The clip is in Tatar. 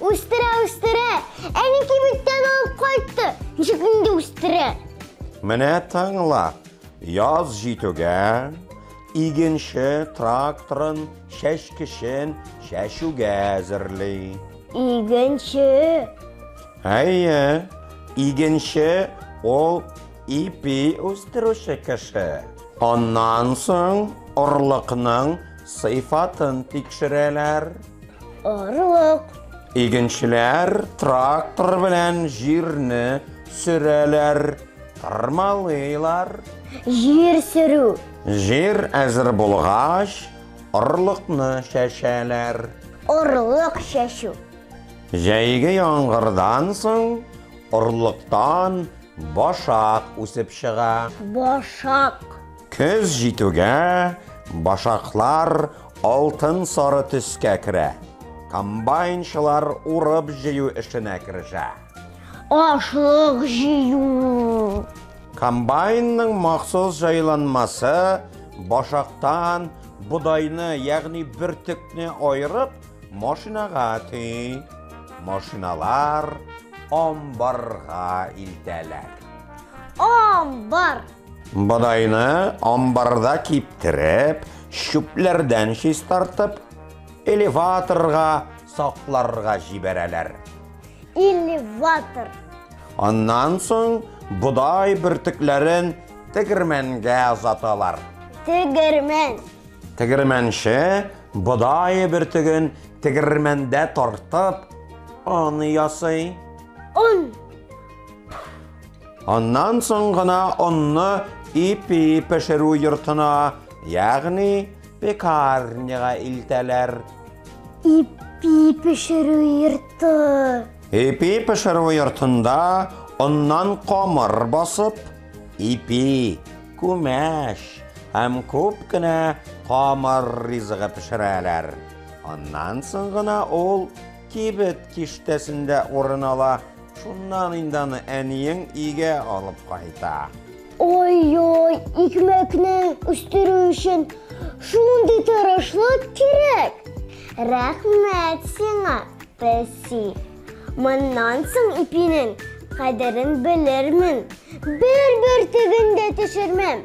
Үстерә, үстерә. Әни кибеттән алып кайтты. Ничек инде үстерә? Менә тыңла. Яз җитүгә игенче тракторын чәчкечен чәчүгә әзерли. Игенче. Әйе, игенче ул Ипи үстерүче кеше. Аннан соң орлыкның сыйфатын тикшерәләр. Орлык. Игенчеләр трактор белән җирне сөрәләр, тырмалыйлар. Җир сөрү. Җир әзер булгач, орлыкны чәчәләр. Орлык чәчү. Җәйге яңгырдан соң орлыктан Башак үсеп чыга. Башак. Көз җитүгә башаклар алтын-сары төскә керә. Комбайнчылар урып-җыю эшенә керешә. Ашлык җыю. Комбайнның махсус җайланмасы башактан бодайны, ягъни бөртекне аерып, Машинага төй, машиналар амбарга илтәләр. Амбар. Бодайны амбарда киптереп, чүпләрдән чистартып, элеваторга сакларга җибәрәләр. Элеватор. Аннан соң бодай бөртекләрен тегермәнгә озаталар. Тегермән. Тегермәнче Бодай бөртеген тегермәндә тартып, он ясый. Он. Аннан соң гына онны ипи пешерү йортына, ягъни пекарняга илтәләр. Ипи пешерү йорты. Ипи пешерү йортында оннан камыр басып, ипи Күмәч һәм күп кенә камыр ризыгы пешерәләр. Аннан соң гына ул кибет киштәсендә урын ала. Шуннан инде аны әниең өйгә алып кайта. Ой-ой, икмәкне үстерү өчен шундый тырышлык кирәк! Рәхмәт сиңа, песи! Моннан соң ипинең кадерен белермен. Бер бөртеген дә төшермәм.